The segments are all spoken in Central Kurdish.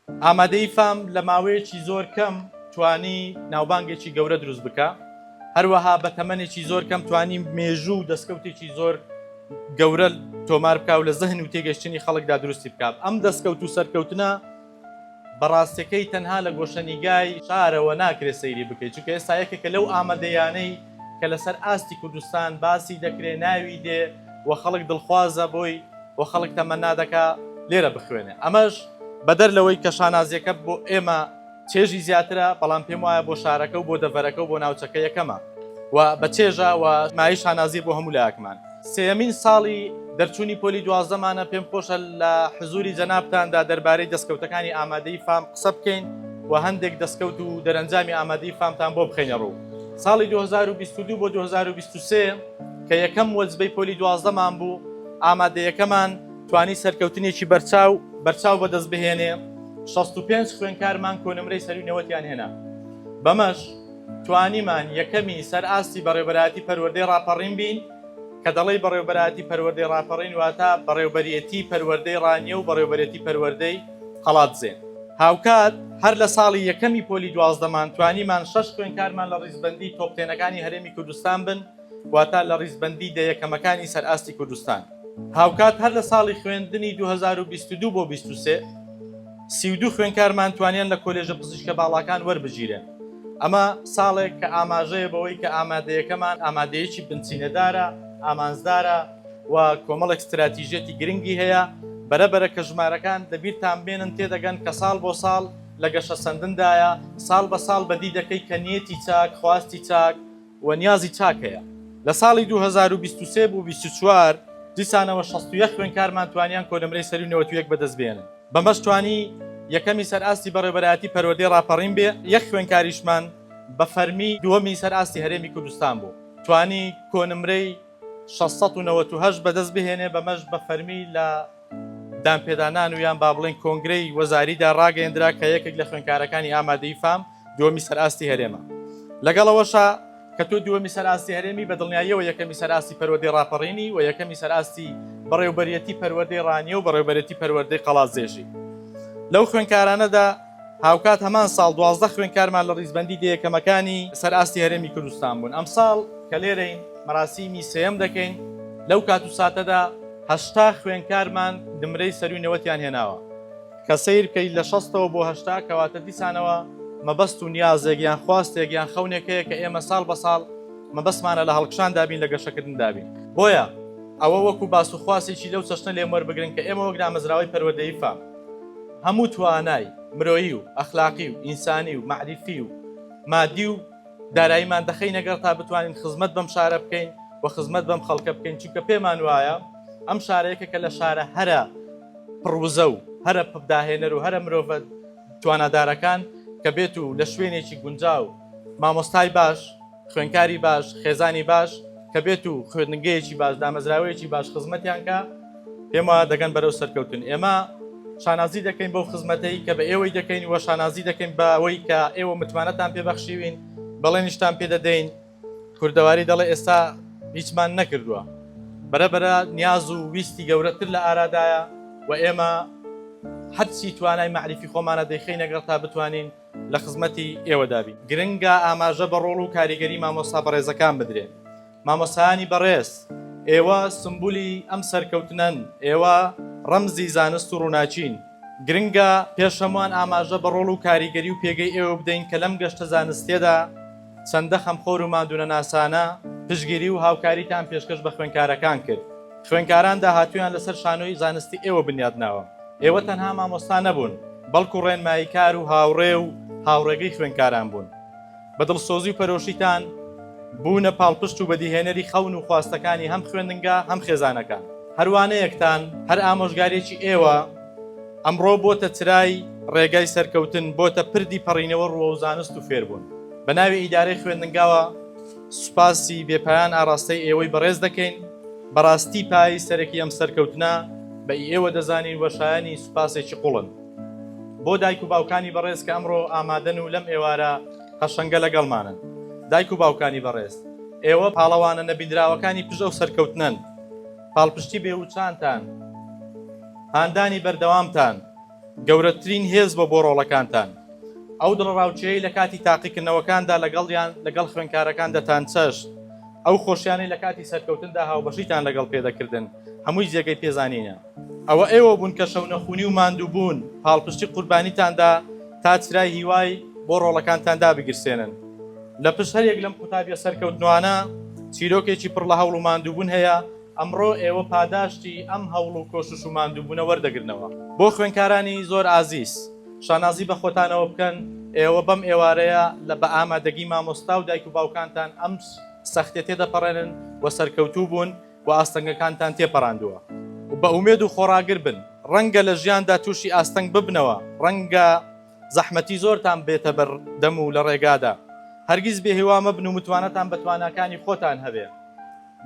ئامادەیی فام لە ماوەیەکی زۆر کەم توانی ناوبانگێکی گەورە دروست بکا، هەروەها بە تەمەنێکی زۆر کەم توانی مێژوو و دەستکەوتێکی زۆر گەورە تۆمار بکا و لە زەهن و تێگەشتنی خەڵکدا دروستی بکا. ئەم دەستکەوت و سەرکەوتنە بەڕاستەکەی تەنها لە گۆشەنیگای شارەوە ناکرێ سەیری بکەی، چونکە ئێستا یەکێکە لەو ئامادەیانەی کە لەسەر ئاستی کوردستان باسی دەکرێ، ناوی دێ و خەڵک دڵخوازە بۆی، بۆ خەڵک تەمەنا دەکا لێرە بخوێنێ ئەمەش بەدەر لەوەی کە شانازیەکە بۆ ئێمە چێژی زیاترە بەڵام پێم وایە بۆ شارەکە و بۆ دەڤەرەکە و بۆ ناوچەکە یەکەمە و بە چێژە و مای شانازی بۆ هەموو لایەکمان سێمین ساڵی دەرچوونی پۆلی دوازدەمانە پێم خۆشە لە حزوری جەنابتاندا دەربارەی دەستکەوتەکانی ئامادەی فام قسە بکەین و هەندێک دەستکەوت و دەرەنجامی ئامادەی فامتان بۆ بخینە ڕوو ساڵی 2022 بۆ 2023 کە یەکەم وەجبەی پۆلی دوازدەمان بوو ئامادەیەکەمان توانی سەرکەوتنێکی بەرچاو بەرچاو بەدەست بهێنێ، 65 خوێندکارمان کۆنمرەی سەروی نەوەتیان هێنا. بەمەش توانیمان یەکەمی سەر ئاستی بەڕێوبەرایەتی پەروەردەی ڕاپەڕین بین، کە دەڵێی بەڕێوبەرایەتی پەروەردەی ڕاپەڕین واتە بەڕێوبەرێتی پەروەردەی ڕانیە و بەڕێوبەرێتی پەروەردەی قەڵادزێ. هاوکات هەر لە ساڵی یەکەمی پۆلی دوازدەمان توانیمان شەش خوێندکارمان لە ڕیزبەندی تۆپ تێنەکانی هەرێمی کوردستان بن، واتە لە ڕیزبەندی دە یەکەمەکانی سەر ئاستی کوردستان. هاوکات هەر لە ساڵی خوێندنی دوو هەزار و بیست و دوو بۆ بیست و سێ، سی و دوو خوێندکارمان توانیان لە کۆلێژە پزیشکە باڵاکان وەربگیرێن. ئەمە ساڵێک کە ئاماژەیە بەوەی کە ئامادەیەکەمان ئامادەیەکی بنچینەدارە، ئامانجدارە و کۆمەڵێک ستراتیژیەتی گرنگی هەیە. بەرەبەرە کە ژمارەکان لەبیرتان بێنن تێدەگەن کە ساڵ بۆ ساڵ لە گەشەسەندندایە، ساڵ بە ساڵ بەدی دەکەی کە نیەتی چاک، خواستی چاک، و نیازی چاک هەیە. لە ساڵی دوو هەزار و بیست و سێ بۆ بیست و چوار دیسانەوە شەست و یەک خوێندکارمان توانیان کۆنمرەی سەرووی نەوەد و یەک بەدەست بێنن، بەمەش توانی یەکەمی سەر ئاستی بەڕێوەبەرایەتی پەروەردەی ڕاپەڕین بێ، یەک خوێندکاریشمان بە فەرمی دووەمی سەر ئاستی هەرێمی کوردستان بوو، توانی کۆنمرەی شەش سەد و نەوەد و هەشت بەدەست بهێنێ، بەمەش بە فەرمی لە. دانپێدانان و یان با بڵێین کۆنگرەی وەزاریدا ڕاگەیەندرا کە یەکێک لە خوێندکارەکانی ئامادەی فام دووەمی سەرئاستی هەرێمە لەگەڵەوەشا کە تۆ دووەمی سەرئاستی هەرێمی بە دڵنیاییەوە یەکەمی سەرئاستی پەروەدەی ڕاپەڕینی و یەکەمی سەرئاستی بەڕێوبەرەتی پەروەدەی ڕانیە و بەڕێوبەرەتی پەروەدەی قەڵازێژی لەو خوێندکارانەدا هاوکات هەمان ساڵ دوازدە خوێندکارمان لە ڕیزبەندی دە یەکەمەکانی سەر ئاستی هەرێمی کوردستان بوون. ئەمساڵ کە لێرەین مەراسیمی سێیەم دەکەین، لەو کات و ساتەدا هەشتا خوێندکارمان نمرەی سەرووی نەوەتیان هێناوە، کە سەیر بکەیت لە شەستەوە بۆ هەشتا، کەواتە دیسانەوە مەبەست و نیازێک یان خواستێک یان خەونێک هەیە کە ئێمە ساڵ بە ساڵ مەبەستمانە لە هەڵکشاندا بین، لە گەشەکردندا بین. بۆیە ئەوە وەکو باس و خواسێکی لەو چەشنە لێم وەربگرن کە ئێمە وەک دامەزراوەی پەروەردەیی فام، هەموو توانای مرۆیی و ئەخلاقی و ئینسانی و مەعریفی و مادی و داراییمان دەخەینە گەڕ تا بتوانین خزمەت بەم شارە بکەین و خزمەت بەم خەڵکە بکەین چونکە پێمان وایە ئەم شارە یەکێکە لە شارە هەرە پڕ وزە و هەرە پڕ داهێنەر و هەرە مرۆڤە توانادارەکان کە بێت و لە شوێنێکی گونجاو مامۆستای باش خوێندکاری باش، خێزانی باش کە بێت و خوێندنگەیەکی باش، دامەزراوەیەکی باش خزمەتیان کا، پێم وایە دەگەن بەرەو سەرکەوتن. ئێمە شانازی دەکەین بەو خزمەتەی کە بە ئێوەی دەکەین و شانازی دەکەین بە ئەوەی کە ئێوە متمانەتان پێ بەخشیوین، بەڵێنیشتان پێ دەدەین. کوردەواری دەڵێ ئێستا هیچمان نەکردووە. بەرە بەرە نیاز و ویستی گەورەتر لە ئارادایە و ئێمە هەرچی توانای مەعریفی خۆمانە دەیخەینە گەڕ تا بتوانین لە خزمەتی ئێوەدا بین گرنگە ئاماژە بە ڕۆڵ و کاریگەری مامۆستا بەڕێزەکان بدرێ مامۆسایانی بەڕێز ئێوە سمبولی ئەم سەرکەوتنەن ئێوە ڕەمزی زانست و ڕووناچین گرنگە پێش هەمووان ئاماژە بە ڕۆڵ و کاریگەری و پێگەی ئێوە بدەین کە لەم گەشتە زانستێدا چەندە خەمخۆر و ماندوونەناسانە پشتگیری و هاوکاریتان پێشکەش بە خوێندکارەکان کرد. خوێندکاران داهاتوویان لەسەر شانۆی زانستی ئێوە بنیادناوە. ئێوە تەنها مامۆستا نەبوون، بەڵکو ڕێنماییکار و هاوڕێ و هاوڕێگەی خوێندکاران بوون. بە دڵسۆزی و پەرۆشیتان بوونە پاڵپشت و بەدیهێنەری خەون و خواستەکانی هەم خوێندنگا هەم خێزانەکان. هەر وانەیەکتان، هەر ئامۆژگارییەکی ئێوە، ئەمڕۆ بۆتە چرای ڕێگای سەرکەوتن، بۆتە پردی پەڕینەوە ڕووەو زانست و فێربوون. بە ناوی ئیدارەی خوێندنگاوە سوپاسی بێ پایان ئاڕاستەی ئێوەی بەڕێز دەکەین، بە ڕاستی پایەی سەرەکی ئەم سەرکەوتنە بە ئی ئێوە دەزانین و شایەنی سوپاسێکی قوڵن. بۆ دایک و باوکانی بەڕێز کە ئەمڕۆ ئامادەن و لەم ئێوارە قەشەنگە لەگەڵمانن. دایک و باوکانی بەڕێز، ئێوە پاڵەوانە نەبینراوەکانی پشت ئەو سەرکەوتنەن. پاڵپشتی بێوچانتان. هاندانی بەردەوامتان گەورەترین هێز بۆ بۆ ڕۆڵەکانتان. ئەو دڵەڕاوکێیەی لە کاتی تاقیکردنەوەکاندا لەگەڵیان لەگەڵ خوێندکارەکان دەتانچەشت، ئەو خۆشیانەی لە کاتی سەرکەوتندا هاوبەشیتان لەگەڵ پێدەکردن، هەمووی جێگەی پێزانینە. ئەوە ئێوە بوون کە شەونەخونی و ماندووبوون، پاڵپشتی قوربانیتاندا تا چرای هیوای بۆ ڕۆڵەکانتان دابگیرسێنن. لە پشت هەریەک لەم قوتابییە سەرکەوتنوانە، چیرۆکێکی پڕ لە هەوڵ و ماندووبوون هەیە، ئەمڕۆ ئێوە پاداشتی ئەم هەوڵ و کۆشش و ماندووبوونە وەردەگرنەوە. بۆ خوێندکارانی زۆر ئازیز، شانازی بە خۆتانەوە بکەن، ئێوە بەم ئێوارەیە لە بە ئامادەگی مامۆستا و دایک و باوکانتان ئەم سەختیە تێدەپەڕێنن و سەرکەوتوو بوون و ئاستەنگەکانتان تێپەڕاندووە و بە ئومێد و خۆڕاگر بن، ڕەنگە لە ژیاندا تووشی ئاستەنگ ببنەوە، ڕەنگە. زەحمەتی زۆرتان بێتە بەر دەم و لە ڕێگادا هەرگیز بێ هیوا مەبن و متوانەتان بە تواناکانی خۆتان هەبێ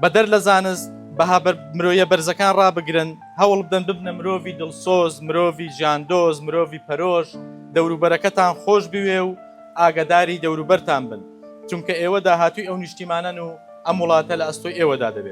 بەدەر لە زانست بەها مرۆیە بەرزەکان ڕابگرن هەوڵ بدەن ببنە مرۆڤی دڵسۆز مرۆڤی ژاندۆز مرۆڤی پەرۆش دەوروبەرەکەتان خۆش بوێ و ئاگداری دەوروبەرتان بن چونکە ئێوە داهاتوی ئەو نیشتیمانەن و ئەم وڵاتە لە ئەستۆی ئێوەدا دەبێت.